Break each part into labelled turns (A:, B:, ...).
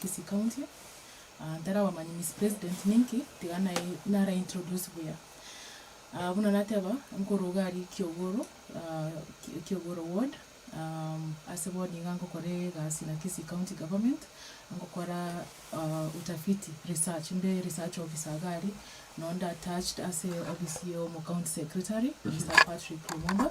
A: Kisii county, ntari abamanyi Miss President ninki, tiga nara introduce buya. Buna nateba, nkoroga aria Kiogoro, Kiogoro ward, ase bono niga nkokora egasi na Kisii county government, nkokora utafiti, research, nde research officer iga aria, nonye nda attached ase office ya omocounty secretary, Mister Patrick Lumumba,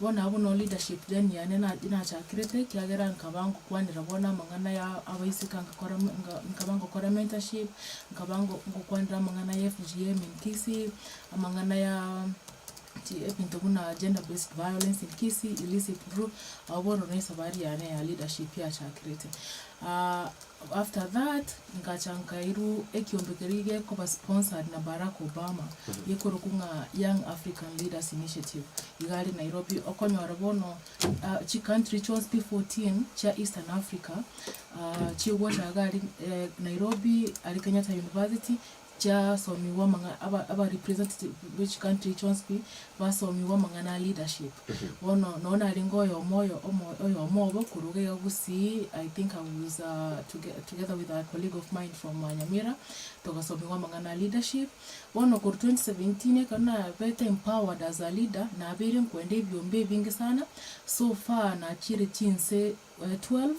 A: Bono abwo no leadership then yane nachakirete ekiagera nkaba ngokwanera bono amang'ana ya abaiseke ngakora nkaba ngokora mentorship, nkaba ngokwanera amang'ana ya FGM in Kisii, amang'ana ya ebinto buna gender based violence in Kisii, illicit brew, abwo bono ne esabari yane ya leadership yachakirete. After that ngacha nkairwa ekiombe keria gekoba sponsored na Barack Obama gekorokwa ng'a Young African Leaders Initiative iga are Nairobi okonyora bono chi country chionsi 14 chia Eastern Africa chigocha iga aria Nairobi aria Kenyatta University chiasomigwa amang'a aba representative be chi country chionsi basomigwa amang'ana a leadership bono nonye narenge oyomo oyomo obo korwa iga iga gusii I think I was together with a colleague of mine from Nyamira togasomigwa amang'ana a leadership bono korwa twenty seventeen ekero nabete empowered as a leader nabeire nkoenda ebiombe ebinge sana so far nachiire chinse twelve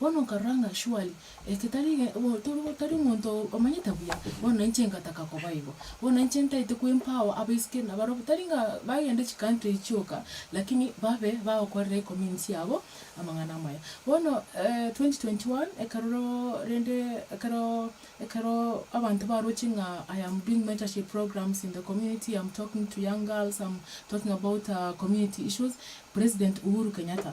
A: Bono nkarora ng'a shwari, eke tari tari omonto omanyete buya, bono na inche ngataka koba igo. Bono na inche ntaete kwempao abaiseke na barabwo, tari ng'a bagende chicountry chioka, lakini babe bagokorera ecommunity yabo amang'ana amaya. Bono twenty twenty one ekeroro rende ekero ekero abanto baroche ng'a I am doing mentorship programs in the community, am talking to young girls, am talking about community issues, President Uhuru Kenyatta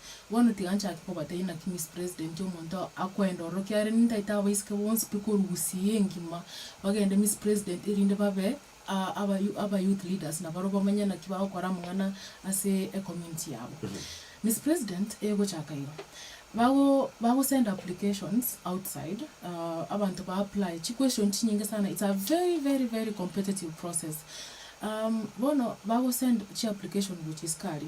A: Bono tiga nchake kobateebia naki Miss President omonto akoenda ororo kiagera nintaete abaiseke bonsi pi korwa Gusii engima bagende Miss President erinde babe aba youth leaders na barobwo bamanye naki bagokora amang'ana ase ecommunity yabo. Miss President egochaka igo, bago bagosend applications outside abanto ba apply chi question chinyinge sana it's a very very very competitive process bono bagosend chi application gochia isikari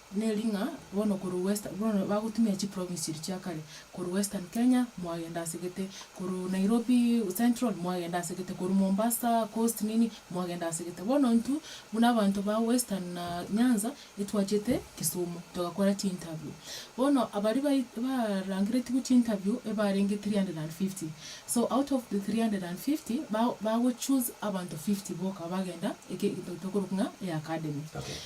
A: Neri ng'a bono korwa western bono bagotumia chi province chiria chia kare, korwa western Kenya mwagenda ase gete, korwa Nairobi central mwagenda ase gete, korwa Mombasa coast nini mwagenda ase gete. Bono intwe buna abanto ba western na Nyanza etwachete Kisumu togakora chi interview. Bono abaria bai barangeretigwe chi interview ebarenge three hundred and fifty, so out of the three hundred and fifty ba- bago choose abanto fifty boka abagenda eke egento tokorokwa ng'a eacademy.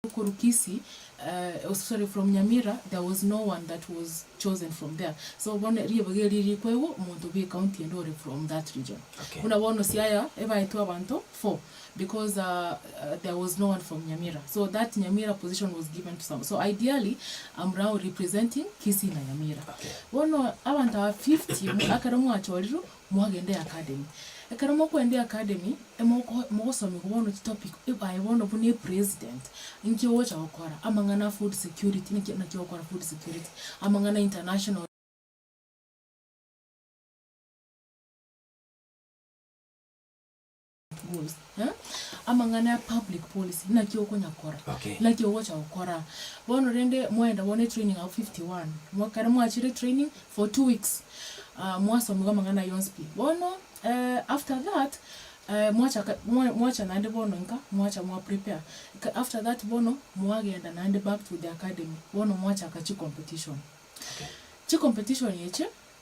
A: Thukuru Kisii, uh, sorry from Nyamira there was no one that was chosen from there so bono ribaga eri rikwa igo omonto bwe county ende ore from that region Okay. buna bono Siaya ebaetwe abanto four because uh, uh, there was no one from Nyamira so that Nyamira position was given to some so ideally I'm now representing Kisii na Nyamira Okay. bono abanto aba 50 mu- akero mwachorirwe Mwagende academy. Ekero mokoenda academy, emoko mogosomiwa bono chi topic, eh, aye bono buna epresident, inki ogocha gokora, amang'ana a food security, naki naki ogokora food security, amang'ana a international. Rules, eh? Amang'ana ya public policy, naki okonya kora, Okay. naki ogocha gokora. Bono rende mwaenda bono etraining abwo 51, mwa- kare mwachire etraining for two weeks, ah, mwasomiwa amang'ana ayio onsi pi. Bono, eh, after that, eh, mwachaka, mwa- mwacha naende bono inka, mwacha mwa prepare. Ka- After that bono, mwagenda naende back to the academy, bono mwachaka chicompetition. Chicompetition eche,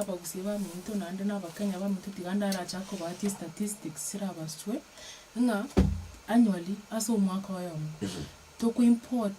A: abagusia baminto naende na abakenya baminto tiga ndarachake kobatia statistics chirabaswe ng'a annually ase omwaka oyomo toko import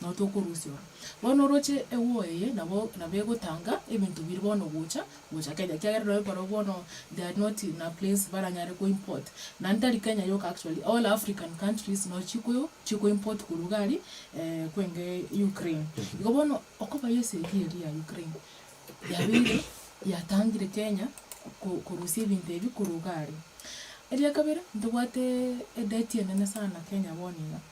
A: Nao tokorusia ora. Bono oroche egwo eye nabo nabo egotanga ebinto biria bono gocha gocha Kenya ekiagera nonye barobwo bono they are not in a place baranyare ko import naende tari Kenya yoka actually all African countries no chikoyo chiko import korwa iga ari kwenge Ukraine. Igo bono okoba esegi eria ya Ukraine yabeire yatangire Kenya ko korusia ebinto ebi korwa iga aria. Eria kabere ntobwate edebti enene sana Kenya bono iga.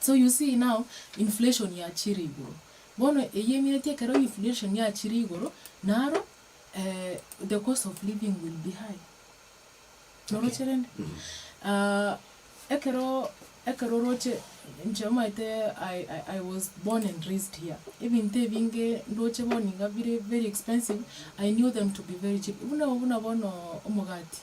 A: So you see now inflation yachire igoro, bono eyio emineti ekero inflation yachire igoro naro the cost of living will be high. Noroche rende? Ekero ekero oroche inche omanyete I was born and raised here, ebinto ebinge ndoche bono iga bire very expensive, I knew them to be very cheap, buna bono omogati.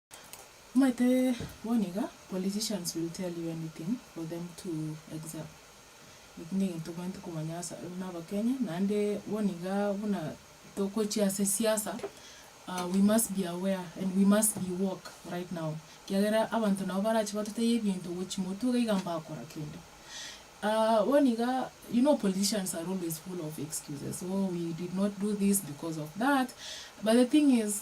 A: Omanyete bono iga politicians will tell you anything for them to except eki negento omanyete komanya ase buna abakenya naende bono iga buna togochia ase siasa we must be aware and we must be woke right now ekiagera abanto nabo barache batotebie ebinto gochia motwe iga iga mbakora kende bono iga you know politicians are always full of excuses oh we did not do this because of that but the thing is.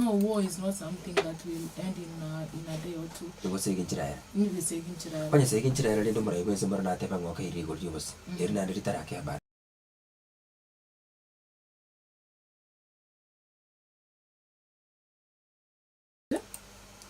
A: No war is not something that will end in a, in a day or two. Igosegi nchera ere. Nigesegi nchera ere. Onyesegi nchera ere rende omorai
B: bw'ense mboro natebe ng'a okeirire igoro ri'obosie, eri naende ritarakeba are.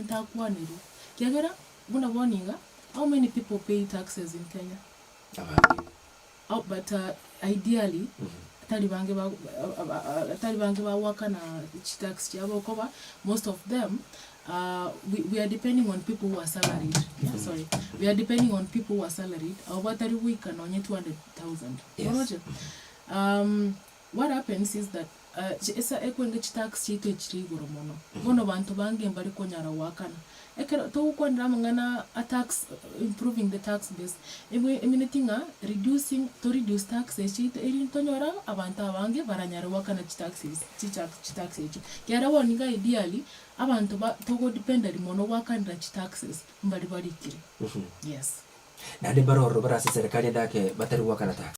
A: Ntakwaneria, kiagera buna bono iga, how many people pay taxes in Kenya? Abange. How, but uh, ideally, tari bange ba, ab- ab- tari bange bagoakana chitax chiabo okoba most of them uh, we, we are depending on people who are salaried sorry we are depending on people who are salaried abo batari goika nonye 200000 Yes. oroche um, What happens is that esa ekwenge chitax chiaito echire igoro mono, bono banto bange mbari konyara goakana. Ekero togokwanera amang'ana a tax, improving the tax base, e mineti ng'a reducing, to reduce taxes chiaito erinde tonyore abanto abange baranyare goakana chitaxes, chitax echio. Kiagera bono nigo ideally abanto ba togodependeria mono goakanera chitaxes mbari barikire. Yes. Naende mbare
B: ororo barase serikali endake batari goakana tax.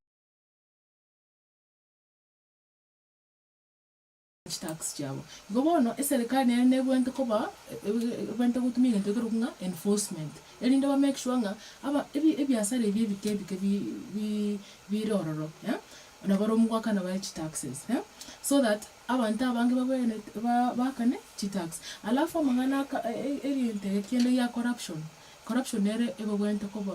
A: chitax chiabo. Igo bono eserekari nere nebwente koba ebwente gotuma egento ekerokwa ng'a enforcement erinde ba make sure ng'a aba ebi ebiasara ebi ebike ebike bi bi bire ororo na bare omogwekano bare chitaxes so that abanto abange babenerete ba bakane chitax. Alafu amang'ana aka egento ege kende gia corruption, corruption nere ebabwente koba.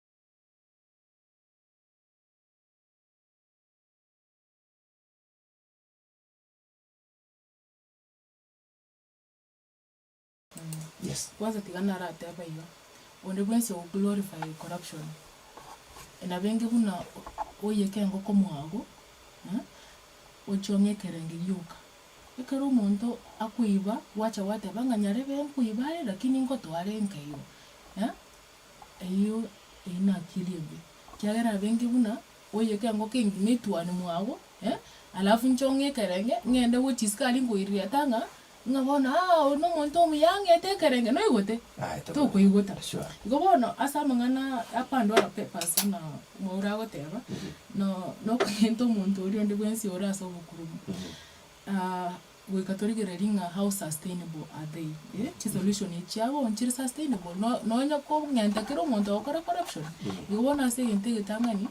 B: Yes. Kwanza tiga narateba
A: iga, onde bwensi ogo glorify corruption, nabenge buna oyeka engoko mwago, eh, ochie ong'e ekerenge gioka. Ekero omonto akoiba, gwacha gwateba ng'a nyarebe nkoiba aye lakini ngotoa are nkairwe, eh. Eyio eyio nakiri ebi, ekiagera abenge buna oiyeke engoko engima etuane mwabo, eh, alafu inche ong'e ekerenge, ng'ende go chisiko aria nkoirireta ng'a, ng'a bono aa oyo nomonto omuya ang'ete ekerenge, noigote? Aye tokoigota. Tokoigota. Sure. Igo bono
B: ase amang'ana
A: apandora papers buna mwaura agoteba, no- nokonyenta omonto oria onde bwensi ore ase obokurumu. Goika torigererie ng'a how sustainable are they? eh, chi solution echio abwo nchire sustainable? No nonya kong'enta kera omonto agokore corruption? Igo bono ase egento egetang'ani,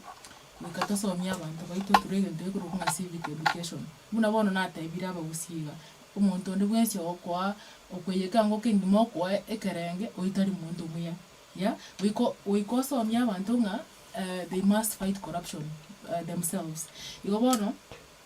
A: goika tosomie abanto baito through egento gekorokwa ng'a civic education. Buna bono natebire abagusia iga, omonto onde bwensi ogokoa okoiya ekeango kegima okoe ekerenge, oyo tari monto muya, ya. Goika goika osomie abanto ng'a eh, they must fight corruption themselves. Igo bono.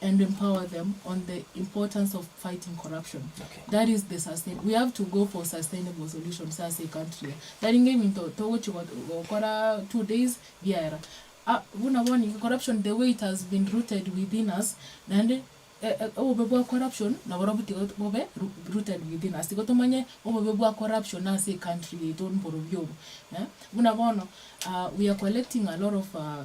A: and empower them on the importance of fighting corruption Okay. that is the
B: sustain
A: we have to go for sustainable solutions ase ecountry eye tari nge ebinto togochi go- gokora two days biaera Ah, buna bono iga corruption the way it has been rooted within us naende e- e- obobe bwa corruption naborobwo tiga bobe ru- rooted within us tiga tomanye obobe bwa corruption ase ecountry yaito mborobio obo eh buna bono ah, we are collecting a lot of ah,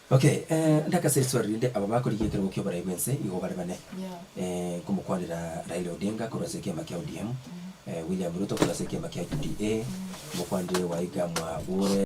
A: Ok,
B: ndakaseswa rinde aba bakorigia ekerogo kioborai bwense igo bare bane,
A: nkomokwanera Raila
B: Odinga korwa ase ekiama kia ODM, William Ruto korwa ase ekiama kia UDA, omokwanire wa iga mwabure.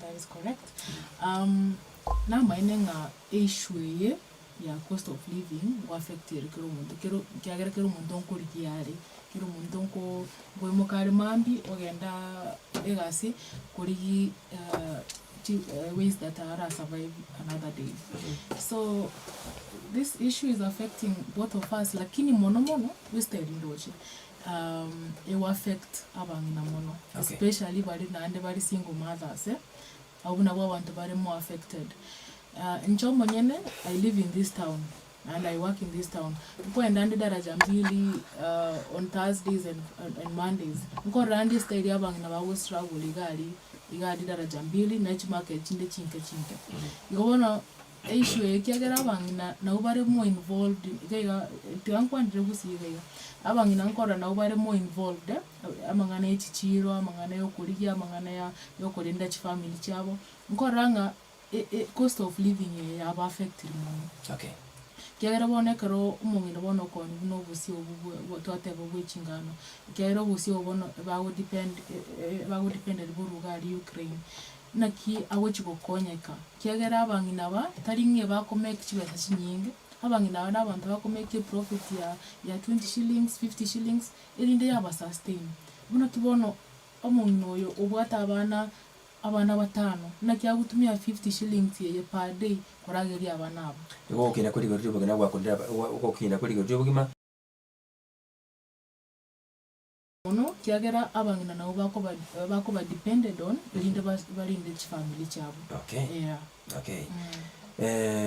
A: That is correct. Um, namaene ng'a eissue eye ya cost of living go affect ere kera omonto kero kiagera kera omonto nkorigia are kera omonto nko nkoimoka are mambi ogenda egasi korigi uh, chi- uh, ways that ara survive another day so this issue is affecting both of us lakini mono mono goista erindoche Ego affect abang'ina mono especially bare naende bare single mothers abwo nabwo abanto bare more affected. Inche omonyene I live in this town and I work in this town nkoenda ande daraja mbili on Thursdays and Mondays nkorora ande esita eria abang'ina ba go struggle iga aria iga aria daraja mbili ne chimake echinde chinke chinke igo bono. E issue eye ekiagera abang'ina nabo bare more involved iga iga tiga nkwanire gusii iga iga. Abang'ina nkorora nabo bare more involved amang'ana ya echichiiro, amang'ana ya okorigia, amang'ana ya ya okorenda chifamiri chiabo, nkorora ng'a e- e cost of living eye yaba affectiri mono. Okay.
B: Ekiagera bono
A: ekero omong'ina bono okonywa buna obosie obo bwa bwa twateba bwa echingano, ekiagera obosie obo bono ebago depend e- e- e- ebago depended boruga aria Ukraine. Naki agochia gokonyeka, kiagera abang'ina aba tari ng'e bakomeki chibesa chinyinge, abang'ina aba nabanto bakomeki eprofit ya ya twenty shillings, fifty shillings, erinde yaba sustain. Buna ki bono omong'ina oyo obwate abana abana batano, naki agotumia fifty shillings eye per day korageria abana aba. Igo ogokina kwe rigori
B: ri'obogima nagwakorire aba, ogokina kwe rigori ri'obogima.
A: mono kiagera abang'ina nabo bakoba bakoba depended on erinde bas barinde chifamily chiabo Okay. yeah
B: Okay.
A: mm.
B: Eh.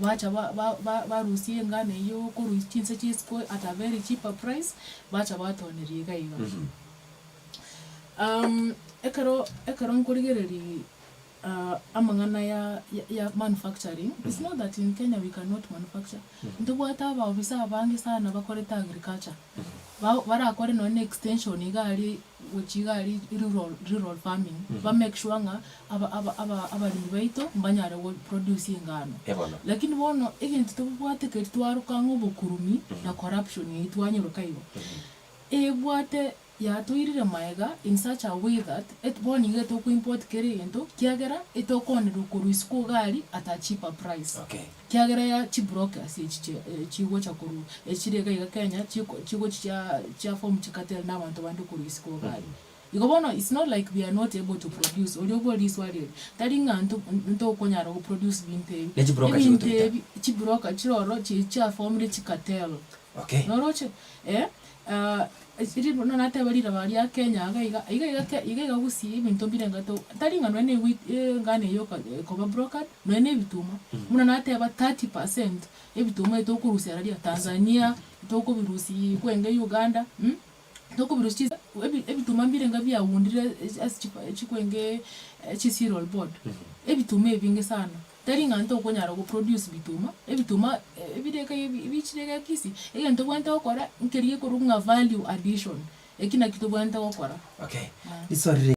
A: Bacha ba- ba- ba- barusia engano eyio korwa is- chinse chia isiko at a very cheaper price, bacha batoneria iga iga. Um, ekero ekero nkorigereria ah, amang'ana ya ya- ya manufacturing, it's not that in Kenya we cannot manufacture, ntobwate abaofisa abange sana bakorete agriculture, ba- barakore nonya na extension iga aria gochia iga aria rural rural farming, ba make sure ng'a aba aba aba abaremi baito mbanyare go produce engano. Eh bono. Lakini bono egento tobobwate keri twaroka ng'a obokurumi na corruption eyio twanyeroka igo, ebwate yatoirire maega in such a way that et bono iga tokoimport kera egento kiagera etokoonererwa korwa isiko iga aria at a cheaper price. Okay. Kiagera ya
B: chiburoki
A: ase echi chigocha korwa echi chire iga iga Kenya chigochia chia form chicartel na abanto bande korwa isi koba aye. Igo bono it's not like we are not able to produce oria oborire riswali eri tari ng'a ntokonyara go produce binto ebi. Ebinto ebi chiburoka chire ororo chiria chiaformire chicartel Okay. Noroche
B: eh
A: eh ri buna nateba riroba ria Kenya iga iga iga iga ke iga iga gusii ebinto mbire ngatoo tari ng'a nonya ne wit engano eye oko ekoba brokered nonya ne ebituma buna nateba thirty percent ebituma ebi tokorusia ara ria Tanzania tokobirusii kwenge Uganda tokobirusi chis ebi ebituma mbire nga biagundire ase chiko chikwengee chisiral board ebituma ebinge sana. Tari ng'a ntokonyara go produce bituma, ebituma ebirege ebichire gakisi, egento tobwate gokora nkeria ekorwa ng'a value addition, eki naki tobwate gokora. Okay, riswali
B: rinde.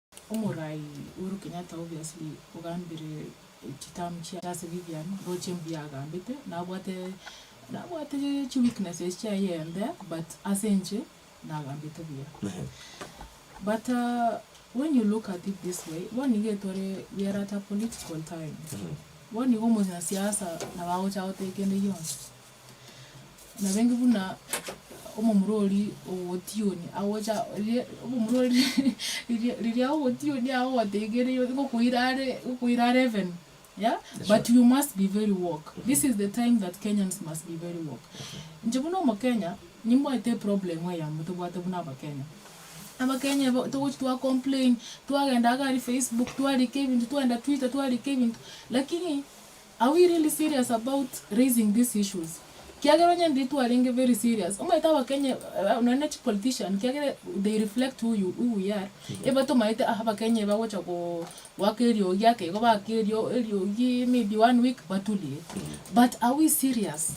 A: Omorai Uhuru Kenyatta obvious ogambire chitamu chiaye ase bibiani roche mbuya agambete nabwate nabwate chi weaknesses chiaye I am there but ase inche nagambete buya but when you look at it this way bono iga etore we are at a political time bono iga omonyasiasa nabo agocha goteba kende gionsi. Nabeenge buna omomura oria ogotioni agocha riria omomura oria riria riria ogotioni agogotegeria egokoira are egokoira are heaven yeah but you must be very woke this is the time that Kenyans must be very woke. Inche buna omokenya nimbaete eproblem eyemo tobwate buna abakenya. Abakenya igo togochia twa complain, twagenda iga aria facebook twarika ebinto, twagenda twitter twarika ebinto lakini. Are we really serious about raising these issues? Kiagera onye nde twarenge very serious, omanyete abakenya nonya ne chi politician kiagera they reflect who you who we are, ebe tomaete ah abakenya ebe bagocha go goaka eriogi ake igo baaka erio eriogi maybe one week baturie. But are we serious?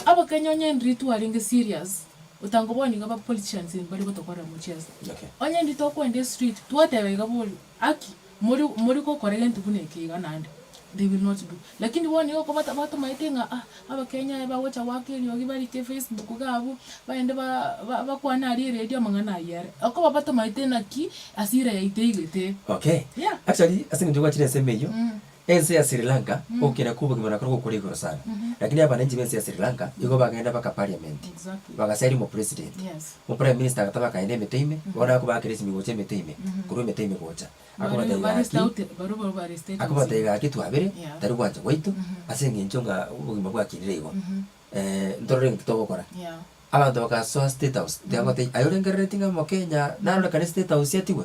A: Abakenya onye ndiri twarenge serious, otango bono iga aba politicians mbare gotokorera mochezo. Okay. Onye ndiri
B: tokwenda
A: estreet twateba iga borio, haki? More, more gokora egento buna eke iga naende, they will not do. Lakini bono nigo oko bata, batomaete ng'a ah, Abakenya aya bagocha goaka eriogi barike Facebook iga abwo, baende ba, ba, bakwane aria eredio amang'ana ayio are. Oko babatomaete naki ase ira yaito igete. Okay. Yeah.
B: Actually, ase
A: eng'encho gwachire
B: ensemo eyio, Mm. ense ya Sri Lanka, Mm. ogokina kwa obogima nakorwa gokure igoro sana. Mhm. Lakini abananchi b'ense ya Sri Lanka, igo Mm. bagenda baka parliament, Exactly. bagasiaria
A: omopresident.
B: Yes. Oprime minister
A: agataba
B: akaenda emetwe ime, bono akobaakera esimigo cia emetwe ime, korwa emetwe ime gocha. Akobatebia gaki, akobatebia gaki twabire, tari gwancha gwaito, ase engencho ng'a obogima bwakinire igo, ntorore egento togokora. Abanto bagasoa state house, tiga goteba aye orengerereti ng'a mokenya narorekane state house atigwe.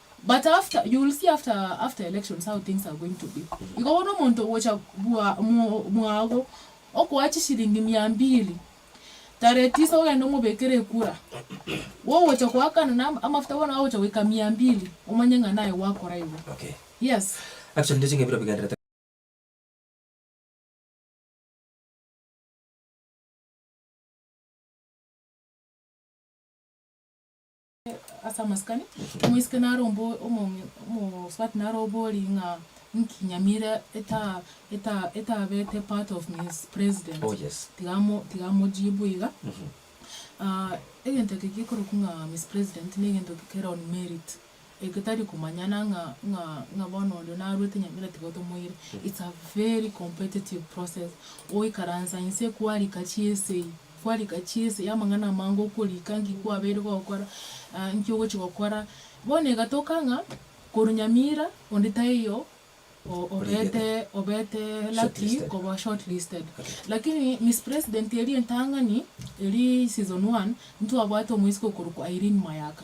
A: But after you will see after after elections how things are going to be igo bono omonto ogocha bwa mwago okoa chishilingi mia mbili tarehe tisa ogende omobekere ekura wogocha koakana na amafuta bono agocha goika mia mbili omanye ng'a naye gwakora igo yes.
B: Actually
A: ndire ching'ebero
B: bigenderete.
A: ase amasikani, omoiseke nare ombo omomi omosubati nare obori ng'a inki Nyamira eta eta etabete part of Miss President. Oh yes. Tiga amo
B: tiga amojibu
A: iga. egento eke gekorokwa ng'a Miss President na egento eke kere on merit, egetari komanyana ng'a ng'a ng'a bono oria narwete Nyamira tiga otomoire. It's a very competitive process, oikaransa inse kwarika chiesegi. Kwarika ki ense y'amang'ana amange okorika? Nki kwabeire gokora? Nki ogochia gokora? Bono egatoka ng'a korwa Nyamira onde taiyo obete obete lucky koba short listed. Lakini Miss President eria entang'ani eri season one ntwabwate omoisiko okorokwa Irene Mayaka.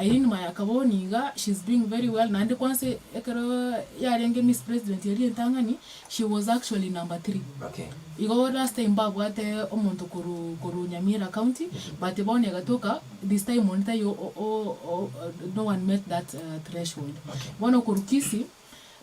A: Irene Mayaka bono iga she's doing very well naende kwanse ekero yarenge Miss President eria entang'ani She was actually number three. Igo
B: last time
A: babwate omonto korwa korwa Nyamira county but bono egatoka this time onde taiyo no one met that threshold. Bono korwa
B: Kisii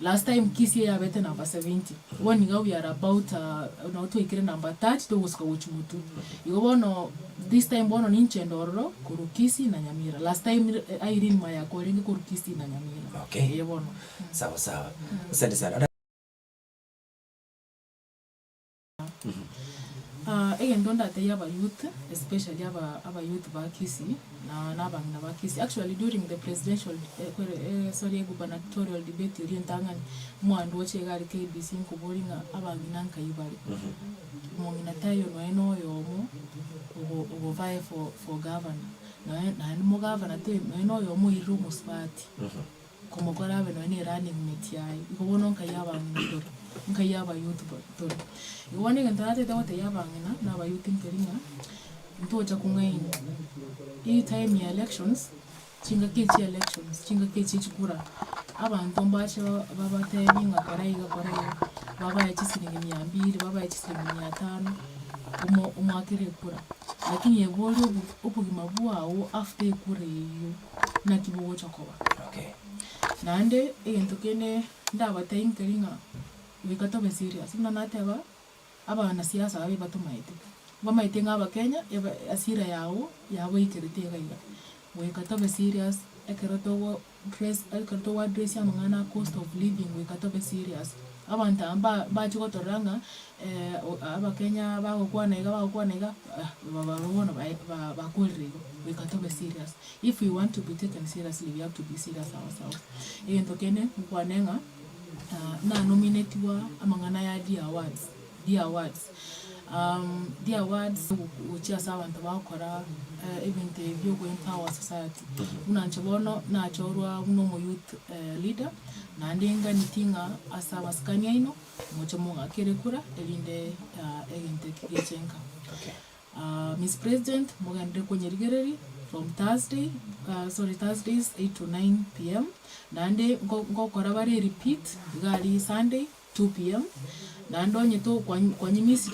A: last time Kisii eyabete number seventy bono iga we are about nabo twaikire number thirty togosuka gochia motwe. Igo bono this time bono ninche ende ororo korwa Kisii na Nyamira. Last time Irene Mayako orenge korwa Kisii na Nyamira. Eye bono.
B: Sawa
A: sawa.
B: Asante sana.
A: egento ndatebie aba youth especially aba aba youth ba Kisii na na abang'ina ba Kisii actually during the presidential eh, kwere eh, sorry gubernatorial debate eria entang'ani mwandu oche iga are KBC nkoboria ng'a abang'ina nkai bare omong'ina tayo noe noyomo ogo ogobae for for governor noe naende mogavana te noe noyomo oirire omosubati Komokora abe nonya ne running mate yaye, igo bono nkaiya abang'ina toro, nkaiya abayouth bo toro. Igo bono egento natagete gotebia abang'ina na abayouth nkeri ng'a, ntocha kong'aini, hii time ya elections, chingaki echi chia elections, chingaki echi chia chikura, abanto mbache ba- babatebie ng'a kora iga kora iga, babae chisiringi mia mbiri, babae chisiringi mia tano, omo- omwakere ekura. Lakini ebe oria obo- obogima bwao after ekura eyio. naki bogocha koba.
B: Naende
A: egento kende ndabatainkeri ng'a goika tobe serious, buna nateba abana siasa ababere batomaete, mbamaete ng'a abakenya eba asira yao yaboikerete iga iga, goika tobe serious ekero togo dress ekero togo address amang'ana a cost of living goika tobe serious. Abanto aba mba mbache gotorora ng'a abakenya bagokwana iga bagokwana iga, barobwo bono bae ba- bakorire igo, reka tobe serious, if we want to be taken seriously we have to be serious ourselves. Egento kende nkwane ng'a, nanominetiwa amang'ana ya dear words, dear words dear words ogo- gochia ase abanto bagokora ebinto ebi bia ogoempower our society. Buna inche bono nachorwa buna omo youth leader, naende nganeti ng'a ase amasikani aino. Moche mogakere kura erinde egento eki gechenka.
B: Miss
A: President mogenderere konyerigereria from Thursday sorry Thursdays eight to nine PM naende ngokora bare repeat iga aria Sunday two PM naende onye to kwanyimisirie.